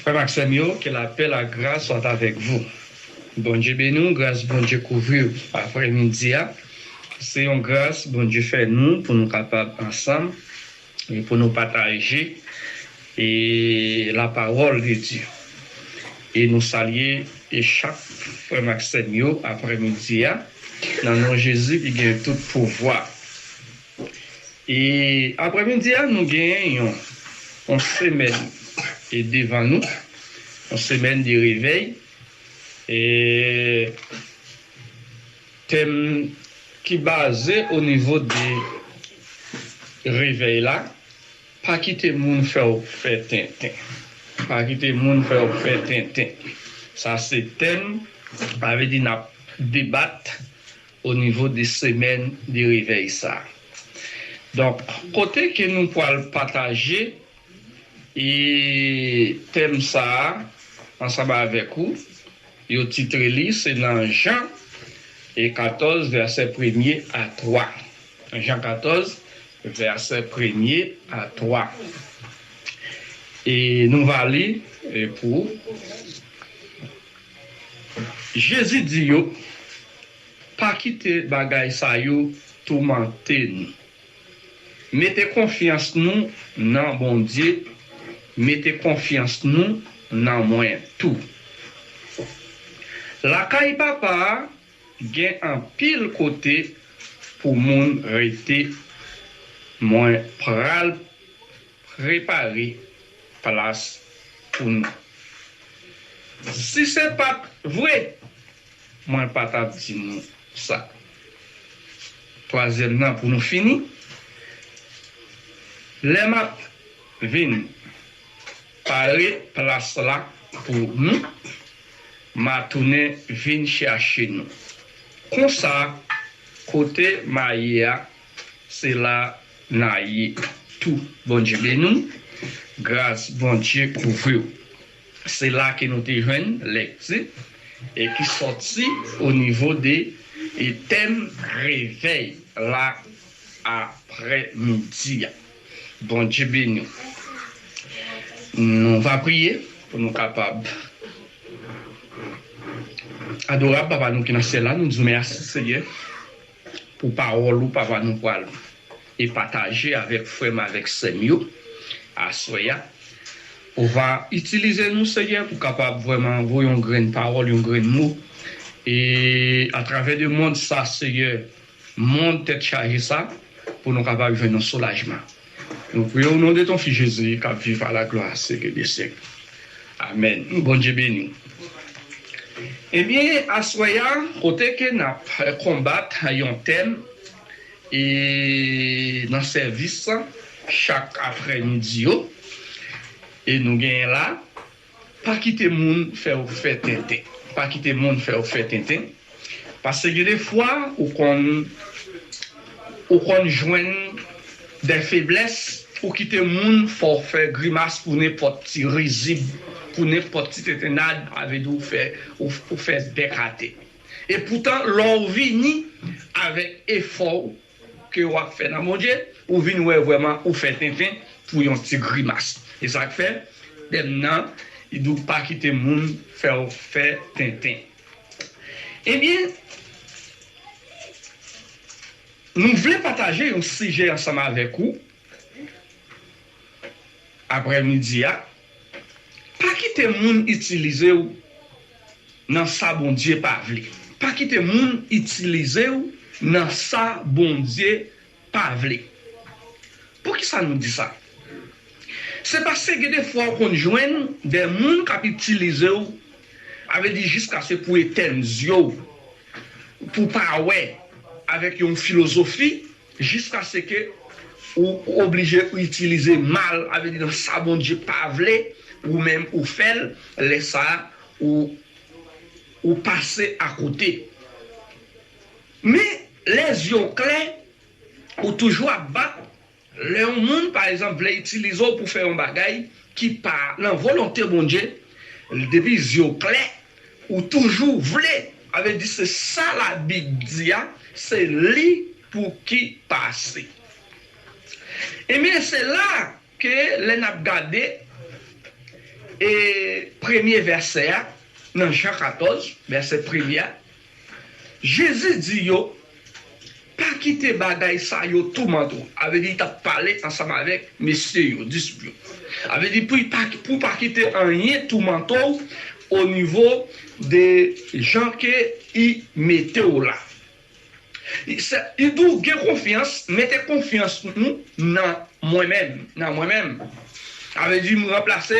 Frèm ak sèm yo ke lapè la gras soit avèk vou Bondye beni w gras Bondye kouvri w aprè midi a se yon gras Bondye fè nou pou nou kapab ansanm e pou nou pataje e la pawòl de Dye e nou salye e chak frèm ak sèm yo aprè midi a nan non Jezi ki gen tout pouvwa. E aprè midi a nou gen yon yon semèn e devan nou yon semèn de revèy e tèm ki baze o nivo de revèy la pa kite moun fè w fè tenten pa kite moun fè w fè tenten sa se tèm sa vle di nap debat o nivo de semèn de revèy sa donk kote ke nou pwal pataje e tèm sa ansanm avèk ou yo titre li se nan Jan e 14 vèsè premye a 3 Jan 14 vèsè premye a 3 e nou va li pou ou. Jezi di yo, Pa kite bagay sa yo toumante nou. Mete konfyans nou nan Bondye, mete konfyans nou nan mwen tou. Lakay Papa a gen anpil kote pou moun rete, mwen pral Prepare plas pou nou. Si se pat vre mwen pa tap di nou sa. Twazyèm nan pou nou fini. Lè map vin pare plas la pou nou ma tounen vin chache nou. Konsa kote ma ye a. Se la na ye tou Bondye beni w gras Bondye kouvri w se la ke nou te jwenn lekti e ki sòti o nivo de e tèm revèy la aprè midi a Bondye beni w nou va priye pou nou kapab adorab papa nou ki nan syèl la nou di w mèsi Senyè. Pou pawòl ou papa nou pwal e pataje avèk frèm avèk sèm yo aswè ya ou va itilize nou senyè pou kapab vrèman voye yon grenn pawòl yon grenn mo e atravè de mond sa senyè mond tèt chaje sa pou nou kapab jwenn yon soulajman. Nou priye w non de ton fi Jezi kap viv a la glwa syèk e de syèk amèn Bondye beni w Ebyen aswè a kote ke nap konbat yon tèm e nan sèvis chak aprè midi yo e nou genyen la. Pa kite moun fè ou fè tenten. Pa kite moun fè ou fè tenten pase gen de fwa ou konn ou konn jwenn de feblès ou kite moun fè ou fè grimas pou nenpòt ti rizib pou nenpòt ti tentennad a vle di ou fè ou fè de kate e poutan lè ou vini avèk efò ou ke wap fè nan Bondye ou vin wè vrèman ou fè tenten pou yon ti grimas esak fè dem nan li diw pa kite moun fèw fè tenten ebyen nou vle pataje yon sijè ansanm avèk ou aprè midi a. Pa kite moun itilizew nan sa Bondye pa vle. Pa kite moun itilizew nan sa Bondye pa vle. Poukisa nou di sa? Se paske gen de fwa ou konn jwenn de moun kap itilizew a vle di jiskase pou etèn zyew pou pa wè avèk yon filozofi. Jiskaseke ou oblije ou itilize mal a vle di nan sa Bondye pa vle ou menm ou fèl lè sa ou ou pase akote men lè zye w klè ou toujou ap bat lè yon moun pa egzanp vle itilize w pou fè yon bagay ki pa nan volonte Bondye depi zye w klè Ou toujou vle, sa vle di se sa labib di a se li pou ki pase. Ebyen se la ke lè nap gade e premye vèsè a nan Jan 14 vèsè premye a. Jezi di yo, Pa kite bagay sa yo toumante w. A vle di, li t ap pale ansanm avèk mesye yo, disip yo. A vle di, pou w pa kite anyen toumante w onivo de jan ke I mete w la. Li di w, Gen konfyans, mete konfyans nou nan mwen menm. Sa vle di m ranplase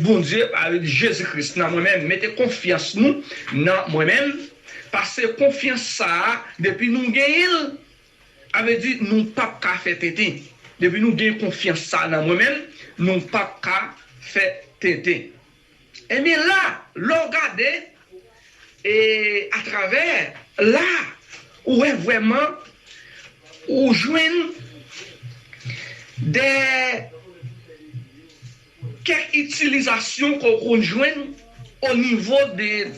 Bondye pa Jezi Kris nan mwen menm. Mete konfyans nou nan mwen menm, pase konfyans sa a depi nou genyen l, sa vle di nou p ap ka fè tenten. Depi nou gen konfyans sa a nan mwen menm, nou p ap ka fè tenten. Ebyen la, lè w gade e atravè la, ou wè vrèman ou jwenn de kèk itilizasyon ke w konn jwenn o nivo de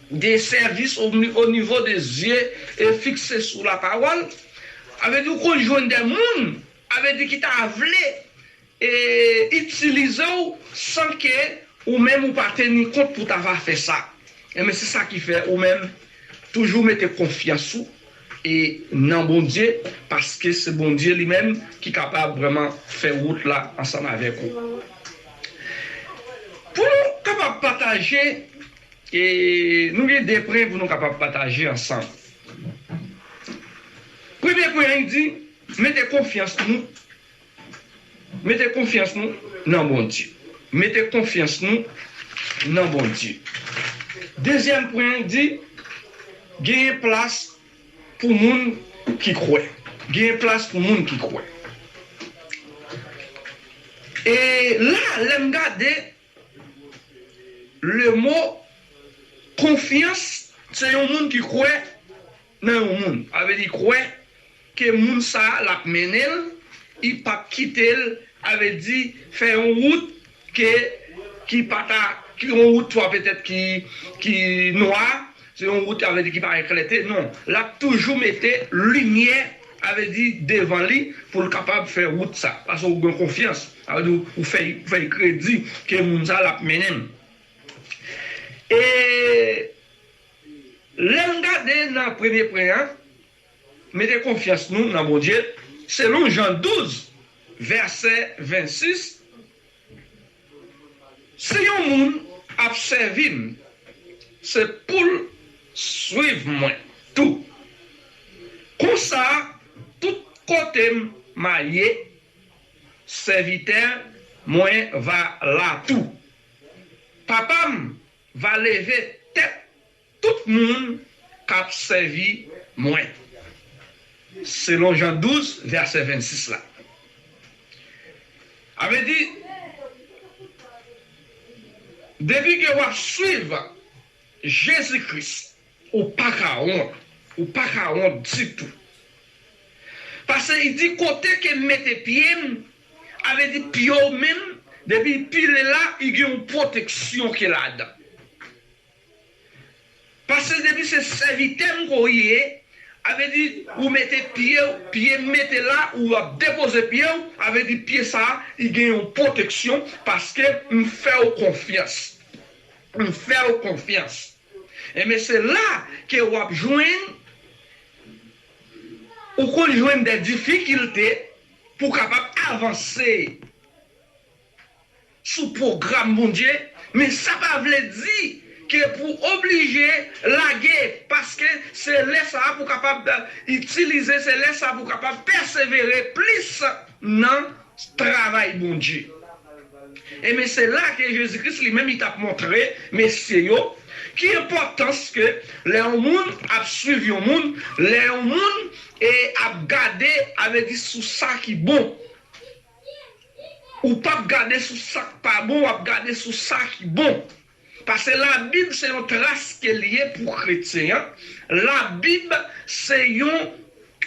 de sèvis o nivo de zye e fikse sou lapawòl. Sa vle di ou konn jwenn de moun, sa vle di ki ta vle E itilize w san ke ou menm ou pa teni kont pou ta va fè sa. Enben se sa ki fè ou menm toujou mete konfyans ou e nan Bondye paske se Bondye li menm ki kapab vrèman fè wout la ansanm avèk ou. Pou nou kapab pataje e nou gen 2 pwen pou nou kapab pataje ansanm. Premye pwen an li di mete konfyans nou Mete konfyans nou nan Bondye. Mete konfyans nou nan Bondye. Dezyèm pwen an di, Genyen plas pou moun ki kwè. Genyen plas pou moun ki kwè. E la, lè m gade lemo konfyans. Se yon moun ki kwè. nan yon moun sa vle di kwè ke moun sa lap mennenl i pap kitel sa vle di fè yon wout ke ki pa ta ki yon wout swa petèt ki ki nwa se yon wout sa vle di ki pa gen klète non lap toujou mete limyè sa vle di devan li poul kapab fè wout sa paske ou gen konfyans sa vle di ou fè ou fè kredi ke moun sa lap mennenm e. Lèn gade nan premye pwen an, mete konfyans nou nan Bondye, selon Jan 12 vèsè 26, Si yon moun ap sèvi m, se poul swiv mwen tou. Konsa tout kote m ma ye, sèvitè mwen va la tou. Papa m Va leve tèt tout moun k ap sèvi mwen, selon Jan 12, vèsè 26 la. A vle di, depi ke w ap suiv Jezi Kris, ou pa ka wont, ou pa ka wont ditou. Pase li di, kote ke m mete pye m, A vle di pye w menm depi li pile la li gen yon pwoteksyon ki ladan. Pase depi se sèvitè m ke w ye, a vle di ou mete pye w, pye m mete la ou ap depoze pye w, a vle di pye sa li gen yon pwoteksyon paske m fè w konfyans. M fè w konfyans. Enben se la ke w ap jwenn ou konn jwenn dè difikilte. Pou w kapab avanse sou pwogram Bondye, men sa pa vle di ke pou w oblije lage, paske se lè sa a pou w kapab itilize, se lè sa a pou w kapab pèsevere plis nan travay Bondye. Enben se la ke Jezi Kris li menm li t'ap montre mesye yo ki enpòtans ke lè yon moun ap swiv yon moun, lè yon moun e ap gade a vle di sou sa ki bon. Ou p'ap gade sou sa k' pa bon, w'ap gade sou sa ki bon. Pase labib se yon tras ke li ye pou kretyen an, labib se yon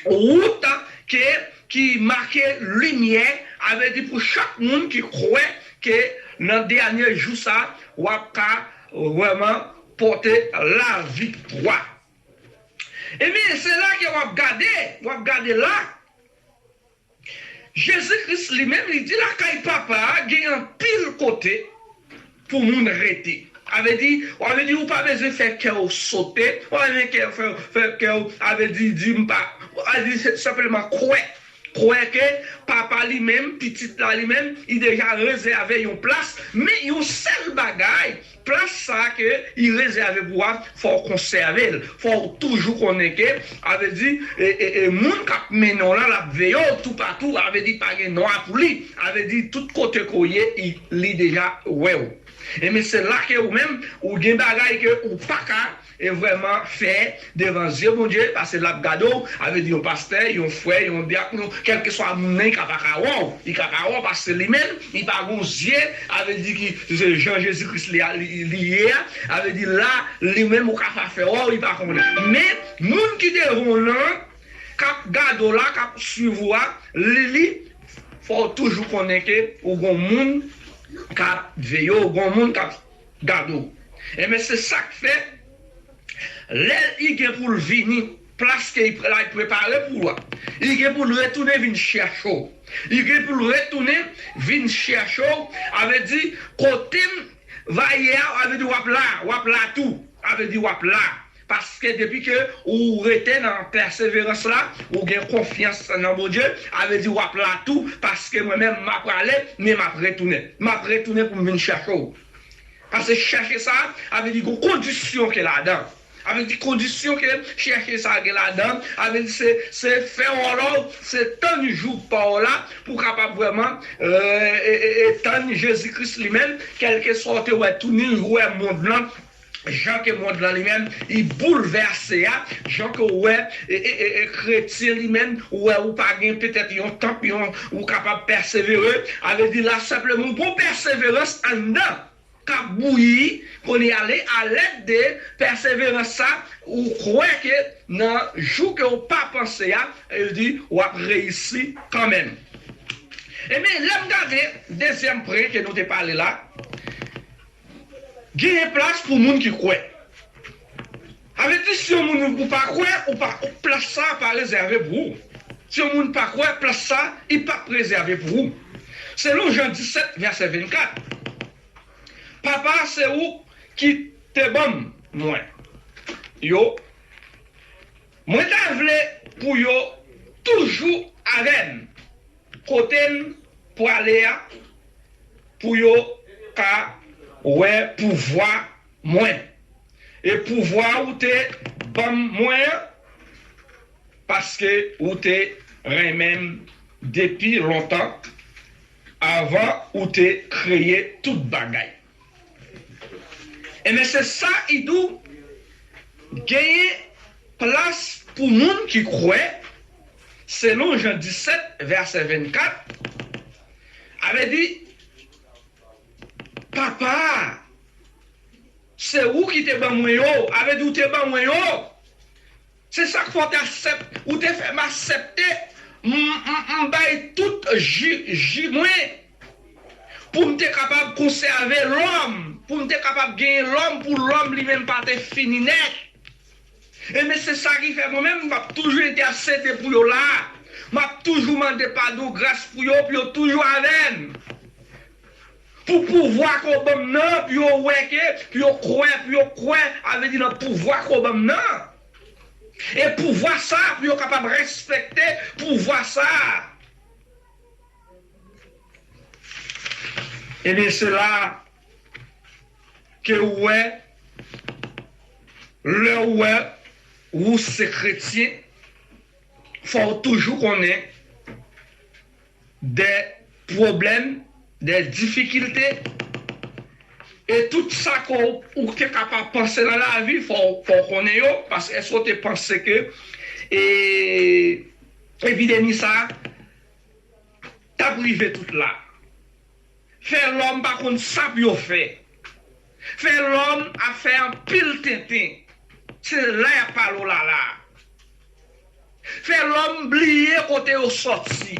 wout ke ki make limyè, avle di pou chak moun ki kwè ke nan dènye jou sa wap ka vrèman pote laviktwa. Ebyen se la ke wap gade, wap gade la. Jezi Kris li menm li di lakay Papa a gen anpil kote pou moun rete. A vle di, w a vle di ou pa bezwen fè kè w sote, ou pa bezwen kè w fè w, fè kè w a vle di di m pa, a di senpleman kwè, kwè ke Papa li menm, Pitit la li menm, li deja rezève yon plas, men yon sèl bagay, Plas sa ke li rezève pou a fò w konsève l, fò w toujou konnen ke a vle di e moun kap mennen w la lap veye w toupatou a vle di pa gen nwa pou li a vle di tout kote ke w ye li deja wè w e men se la ke ou menm ou gen bagay ke ou paka E vrèman fè devan zye Bondye pase lap gade w a vle di yon pastè yon frè yon dyak yon kelkeswa moun nan li ka paka wè w li ka pa wè w paske li menm li pa gon zye a vle di ki se jan Jezi Kris li a li ye a a vle di la li menm ou ka pa fè wè w li pa konnen men moun ki devan w lan kap gade w la kap swiv ou a li li fò w toujou konnen ke ou gon moun kap veye w gon moun kap. Gadoo. Enben se sak fè lè li gen poul vini plas ke li prepare pou ou a, li gen poul retounen vin chèche w. Li gen poul retounen vin chèche w, a vle di kotem va ye a, a vle di wap la, wap la tou, a vle di wap la. Paske depi ke ou rete nan pèseverans la, ou gen konfyans nan Bondye, a vle di w'ap la tou, paske mwen menm m'a prale, men m'ap retounen. M'ap retounen pou m' vin chèche ou. Pase chèche sa, a vle di gon kondisyon ke ladan. A vle di kondisyon ke chèche sa gen ladan, a vle di se se fè on lòv, se tann jou pa w' la pou w' kapab vrèman tann Jezi Kris li menm, kèlkeswa ou te wè tounin ou wè mond lan, Jan ke mond lan li menm li boulvèse a, jan ke ou wè kretyen li menm, ou wè ou pa gen petèt yon tanp, yon ou kapab pèsevere, a vle di la senpleman ou gon pèseverans anndan k'ap bouyi kounye a, a lèd de pèseverans sa ou kwè ke nan jou ke ou pa panse a, a vle di w'ap reyisi kan menm. Enben lè m gade dezyèm pwen ke nou te pale la, Genyen plas pou moun ki kwè. Sa vle di si yon moun ou pa kwè ou pa plas sa pa rezève pou ou. Si yon moun pa kwè plas sa li pa prezève pou ou. Selon Jan 17 vèsè 24 Papa se ou ki te banm mwen yo mwen ta vle pou yo toujou avèm. Kote n prale a pou yo ka wè pouvwa mwen, e pouvwa ou te ban mwen an, paske ou te renmen m depi lontan, anvan ou te kreye tout bagay. Ebyen se sa idou genyen plas pou moun ki kwè selon jan 17 vèsè 24 a vle di papa se ou ki te ban mwen yo a vle di ou te ban mwen yo. Se sak fè w t asèp ou te fè m asèpte m bay tout ji ji mwen pou m te kapab konsève lòm pou m te kapab genyen lòm pou lòm li menm pa te fini nèt enben se sa ki fè mwen menm m ap toujou entèsede pou yo la m ap toujou mande padon gras pou yo pou yo toujou avè m Pou pouvwa ke w ban m nan, pou yo wè ke, pou yo kwè, pou yo kwè, a vle di nan pouvwa ke w ban m nan. E pouvwa sa a, pou yo kapab respekte pouvwa sa a. Ebyen se la a ke ou wè, lè ou wè ou se kretyen, fò ou toujou konnen dè pwoblèm, dè difikilte, e tout sa ke ou te ka pa panse nan lavi fò w konnen yo, paske èske ou te panse ke epidemi sa t ap rive tout la? Fè lòm pa konn sa pou yo fè. Fè lòm ap fè anpil tenten. Se la y ap pale w lala. Fè lòm bliye kote yo sòti.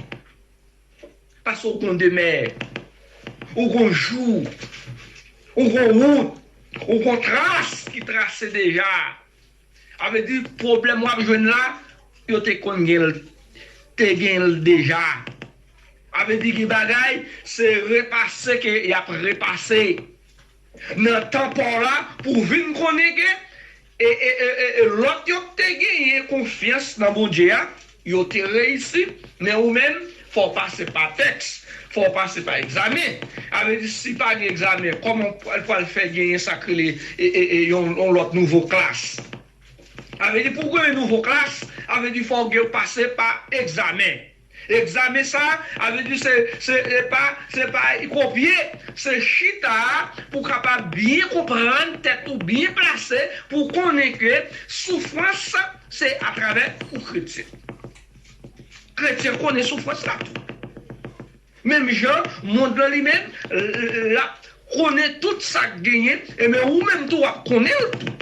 Pase w konn demè. Ou konn jou. Ou konn wout. Ou konn tras ki trase deja. A vle di pwoblèm wap jwenn la yo te konn gen l te gen l deja a vle di gen bagay se repase ke yap repase nan tan paw la pou w vin konnen ke e e e e lòt yo k te genyen konfyans nan Bondye a Yo te reyisi, men ou menm, fò w pase pa tèks, fò w pase pa egzamen. A vle di si pa gen egzamen, kòman w pral pral fè genyen sa k rele yon yon lòt nouvo klas? A vle di pou w genyen nouvo klas, a vle di fò w gen pase pa egzamen. Egzamen sa a, a vle di se se e pa se pa kopye, se chita pou w kapab byen konprann tèt ou, byen plase pou w konnen ke soufrans Se atravè ou kretyen. Kretyen konnen soufrans la tou. Menm jan mond lan li menm lap konnen tout sak genyen enben ou menm tou wap konnenl tou.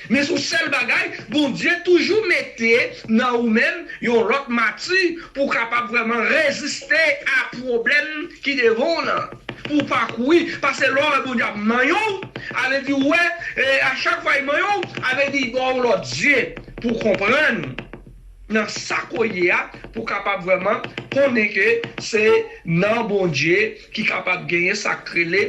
Men sou sèl bagay Bondye toujou mete nan ou menm yon lòt mati pou kapab vrèman reziste a pwoblèm ki devan w lan. Pou pa kouri, pase lè w wè Bondye ap manyen w, avle di ou wè, e a chak fwa li manyen w, avle di li ba w yon lòt zye pou w konprann nan sa ke w ye a, pou w kapab vrèman konnen ke se nan Bondye ki kapab genyen sa k rele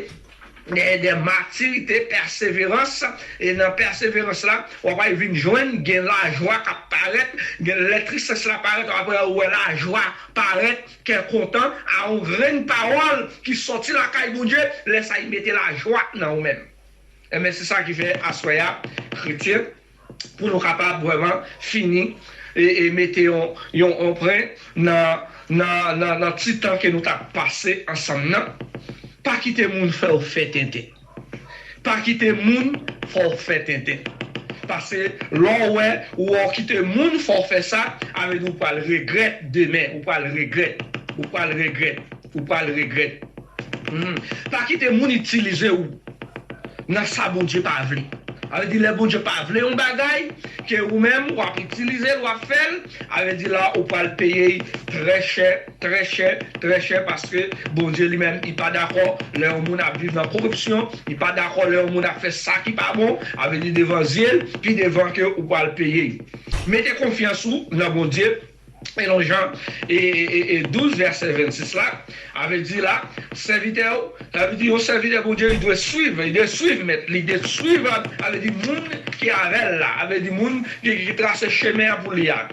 de matirite, pèseverans, e nan pèseverans la w ap al vin jwenn gen lajwa k ap parèt, gen lè tristès la parèt, aprè ou wè lajwa parèt. Kè kontan a on grenn pawòl ki sòti lakay Bondye, lè sa li mete lajwa nan ou menm. Enben se sa ki fè aswè a kretyen pou nou kapab vrèman fini e mete yon pren nan ti tan ke nou tap pase ansanm nan, pa kite moun fèw fè tenten. Pa kite moun fè w fè tenten. Pase lè w wè ou wè w kite moun fè w fè sa, a vle di ou pral regrèt demen, ou pral regrèt, ou pral regrèt, ou pral regrèt. Humm pa kite moun itilize ou nan sa Bondye pa vle. A vle di lè Bondye pa vle yon bagay ke ou menm wap itilize l wap fè l, a vle di la ou pral peye y trè chè. Trè chè, trè chè paske Bondye li menm li pa dakò lè yon moun ap viv nan koripsyon, li pa dakò lè yon moun ap fè sa ki pa bon, a vle di devan zye l, pi devan ke ou pwal peye yo. Mete konfyans ou nan Bondye selon Jan 12 vèsè 26 la, a vle di la sèvitè ou, sa vle di yon sèvitè Bondye li dwe swiv, li dwe swiv mèt li, li dwe swiv a vle di moun ki avè l la, a vle di moun ki trase chemen an pou li a.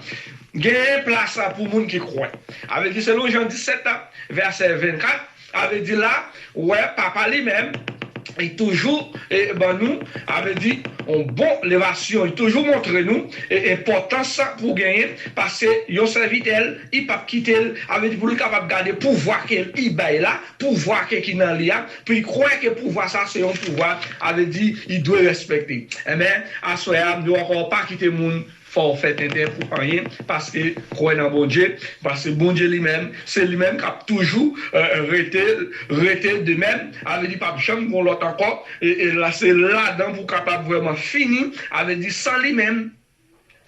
Genyen plas pou moun ki kwè. Avè di selon Jan 17 vèsè 24, avè di la wè papa li menm li toujou ban nou avè di yon bon levasyon li toujou montre nou enpòtans pou genyen pase yon sèvitè l li pap kite l avè di pou li kapab gade pouvwa ke li bay la pouvwa ke ki nan li a pou li kwè ke pouvwa sa se yon pouvwa avè di li dwe respekte enben aswè a m di w ankò pa kite moun Fòw fè tenten pou anyen paske kwè nan Bondye paske Bondye li menm se li menm kap toujou rete rete de menm avle di pap janm gon lòt ankò e la se ladan pou kapab vrèman fini avle di san li menm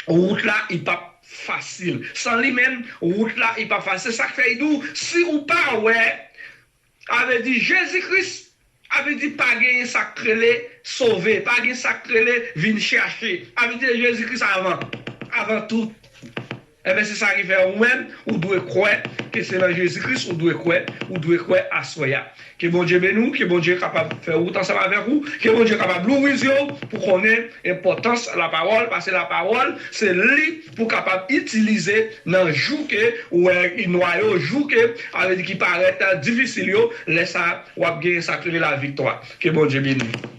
wout la i pap fasil san li menm wout la i pap fasil se sak fè i di w si ou pa wè Sa vle di Jezi Kris, sa vle di pa genyen sa k rele sove, pa gen sa k rele vin chache. Sa vle di Jezi Kris avan, avan tout. Enben se sa ki fè ou menm ou dwe kwè ke se nan Jezi Kris ou dwe kwè, ou dwe kwè aswè a. Ke Bondye beni ou, ke Bondye kapab fè wout ansanm avèk ou, ke Bondye kapab louvri zye ou pou konnen enpòtans lapawòl, pase lapawòl se li. pou kapab itilize nan jou ke ou wè ki nwa yo, jou ke a vle di ki parèt difisil yo, lè sa wap gen sak rele la viktwa. Ke Bondye beni nou.